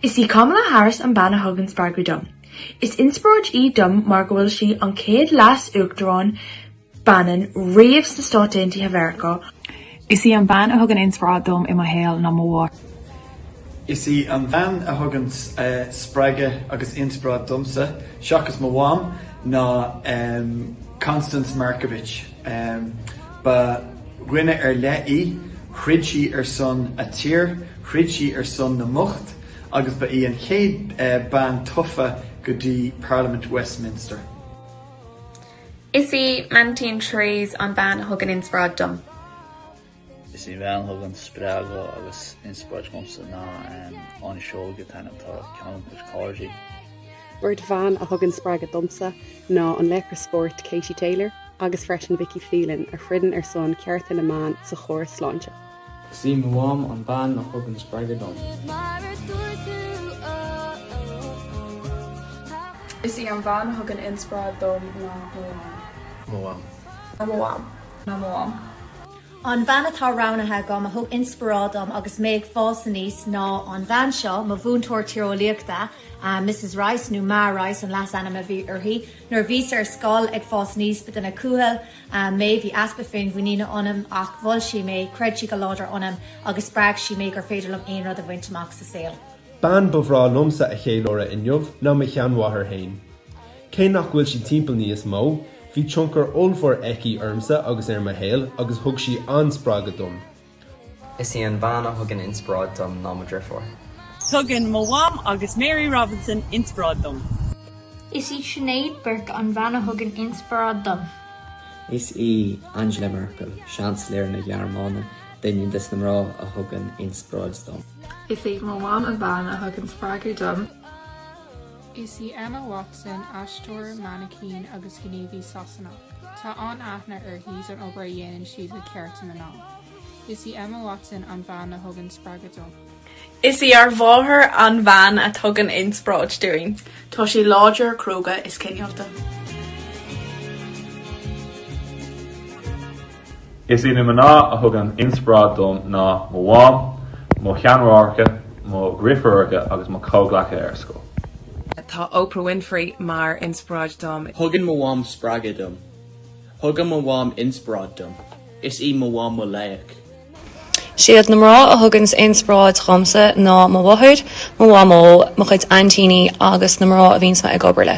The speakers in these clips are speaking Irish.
Is í Kamala Harris an bean a thugann spreagadh dom. Is inspioráid í dom mar go bhfuil sí an chéad leas-uachtarán baineann riamh sna Stáit Aontaithe Mheiriceá, Is í an bhean a thugann inspioráid dom i mo shaol ná mo mháthair. Is í an bhean a thugann spreagadh agus inspioráid domsa, seachas mo mham, ná Constance Markievicz. Ba dhuine ar leith í, throid sí ar son a tír, throid sí ar son na mbocht agus ba í an chéad bean tofa go dtí Parlaimint Westminster. Is í m'aintín Therese an bhean a thugann inspioráid dom. Is í bhean a thugann spreagadh agus inspioráid dhomsa ná Áine Seoighe, a t-ainm atá ar ceann de mo chuid cairde. Beirt bhan a thugann spreagadh domsa ná an laochra spóirt Katie Taylor agus freisin Vicky Phelan a throideann ar son cearta na mban sa chóras sláinte. Is í mo mham an bean a thugann spreagadh dom. Is í an bhean a thugann inspioráid dom ná mo mham. mo mham. ná mo mham. ná mo mham. An bhean atá roghnaithe agam a thug inspioráid dom agus mé ag fás aníos ná an bhean seo, mo mhúinteoir tíreolaíochta, Misses Rice, nó Maa Rice an leasainm a bhí uirthi. Nuair a bhíos ar scoil ag fás aníos ba duine cúthail, mé. Bhí easpa féinmhuiníne ionam ach mhol sí mé, chreid sí go láidir ionam agus spreag sí mé gur féidir liom aon rud a bhaint amach sa saol. Bean ba bhreá liomsa a cheiliúradh inniu ná mo sheanmháthair féin. Cé nach bhfuil sí timpeall níos mó, bhí tionchar ollmhór aici ormsa agus ar mo shaol agus thug sí an-spreagadh dom. Is í an bhean a thugann inspioráid dom ná mo dheirfiúr. Tugann mo mham agus Mary Robinson inspioráid dom. Is í Sinéad Burke an bhean a thugann inspioráid dom. Is í Angela Merkel, Seansailéir na Gearmáine, duine de na mná a thugann inspioráid dom. Is í mo mham an bhean a thugann spreagadh dom. Is í Emma Watson, aisteoir, mainicín agus gníomhaí Sasanach. Tá an-aithne uirthi don obair a dhéanann sí le cearta na mná. Is í Emma Watson an bhean a thugann spreagadh dom. Is í ár mháthair an bhean a tugann inspioráid dúinn. Tá sí láidir, cróga is cineálta. Is iad na mná a thugann inspioráid dom ná mo mham, mo sheanmháithreacha, mo dheirfiúracha agus mo chomhghleacaithe ar scoil. Tá Oprah Winfrey mar inspioráid dom. Thugann mo mham spreagadh dom. Thugann mo mham inspioráid dom. Is í mo mham mo laoch. Siad na mná a thuganns inspioráid dhomsa ná mo mháthair, mo mhamó, mo chuid aintíní agus na mná a bhíonns mé ag obair le.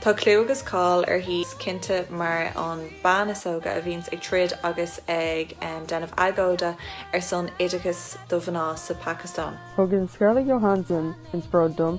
Tá clú agus cáil uirthi is cinnte mar an bean is óga a bhíonns ag troid agus ag déanamh agóide ar son oideachais do mhná sa Phacastáin. Thugann Scarlett Johansson inspioráid dom.